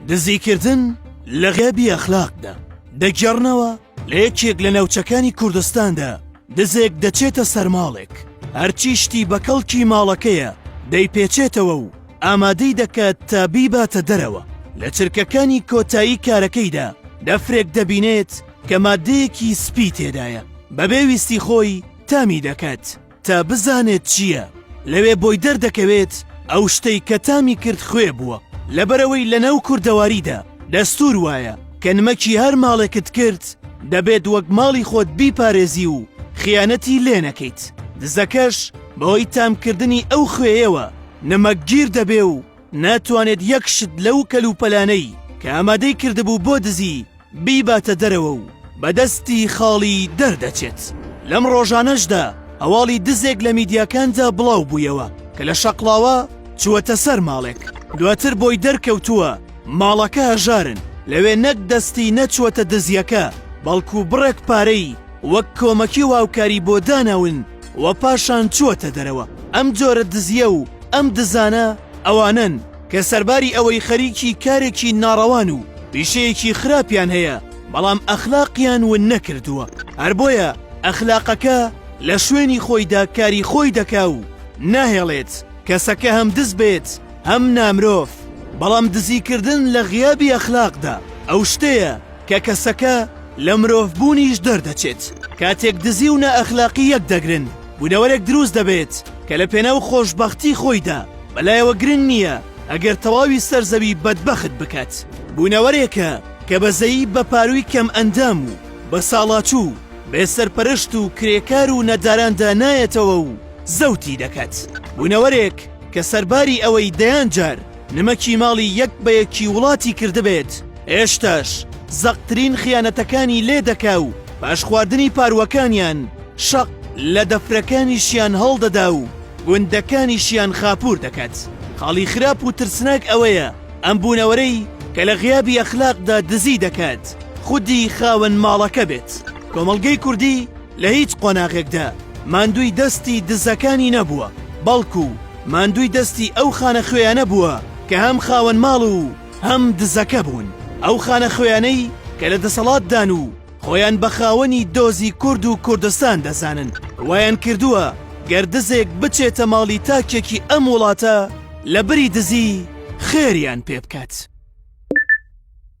دزیکردن لە غیابی ئەخلاقدا دەگێڕنەوە لە یەکێک لە ناوچەکانی کوردستاندا دزێک دەچێتە سەرماڵێک هەرچی شتی بە کەڵکی ماڵەکەیە دەیپێچێتەوە و ئامادەی دەکات تا بیباتە دەرەوە لە چرکەکانی کۆتایی کارەکەیدا دەفرێک دەبینێت کە مادەیەکی سپی تێدایە بەبێ ویستی خۆی تامی دەکات تا بزانێت چییە لەوێ بۆی دەردەکەوێت ئەو شتەی کە تامی کرد خوێ بووە لەبەرەوەی لە ناو کوردەواریدا دەستور وایە کە نمەکی هەر ماڵێکت کرد دەبێت وەک ماڵی خۆت بیپارێزی و خیانەتی لێ نەکەیت دزەکەش بەوەی تامکردنی ئەو خوێیەوە نمەک گیر دەبێ و ناتوانێت یەک شت لەو کەلوپەلانەی کە ئامادەی کردبوو بۆ دزی بیباتە دەرەوە و بە دەستی خاڵی دەردەچێت. لەم ڕۆژانەشدا هەواڵی دزێک لە میدیاکاندا بڵاو بوویەوە کە لە شەقڵاوە چووەتە سەر ماڵێک، دواتر بۆی دەرکەوتووە ماڵەکە هەژارن، لەوێ نەک دەستی نەچووەتە دزییەکە، بەڵکو بڕێک پارەی وەک کۆمەکی و هاوکاری بۆ داناون و پاشان چووەتە دەرەوە. ئەم جۆرە دزییە و ئەم دزانە ئەوانەن، کە سەرباری ئەوەی خەریکی کارێکی ناڕەوان و پیشەیەکی خراپیان هەیە بەڵام ئەخلاقیان ون نەکردووە هەر بۆیە ئەخلاقەکە لە شوێنی خۆیدا کاری خۆی دەکا و ناهێڵێت کەسەکە هەم دز بێت هەم نامرۆڤ بەڵام دزیکردن لە غیابی ئەخلاقدا ئەو شتەیە کە کەسەکە لە مرۆڤبوونیش دەردەچێت کاتێک دزی و نائەخلاقی یەک دەگرن بوونەوەرێک دروست دەبێت کە لە پێناو خۆشبەختی خۆیدا بەلایەوە گرنگ نییە ئەگەر تەواوی سەر زەوی بەدبەخت بکات بوونەوەرێکە کە بەزەیی بە پارووی کەم ئەندام و بە ساڵاچوو بێ سەرپەرشت و کرێکار و نەداراندا نایەتەوە و زەوتی دەکات بوونەوەرێک کە سەرباری ئەوەی دەیان جار نمەکی ماڵی یەک بە یەکی وڵاتی کردبێت هێشتاش زەقترین خیانەتەکانی لێ دەکا و پاش خواردنی پارووەکانیان شەق لە دەفرەکانیشیان هەڵدەدا و گوندەکانیشیان خاپوور دەکات خاڵی خراپ و ترسناک ئەوەیە ئەم بوونەوەرەی کە لە غیابی ئەخلاقدا دزی دەکات خودی خاوەن ماڵەکە بێت کۆمەڵگەی کوردی لە هیچ قۆناغێکدا ماندووی دەستی دزەکانی نەبووە، بەڵکو ماندووی دەستی ئەو خانەخوێیانە بووە کە هەم خاوەن ماڵ و هەم دزەکە بوون، ئەو خانەخوێیانەی کە لە دەسەڵاتدان و خۆیان بە خاوەنی دۆزی کورد و کوردستان دەزانن، وایان کردووە گەر دزێک بچێتە ماڵی تاکێکی ئەم وڵاتە لە بری دزی خێریان پێ بکات.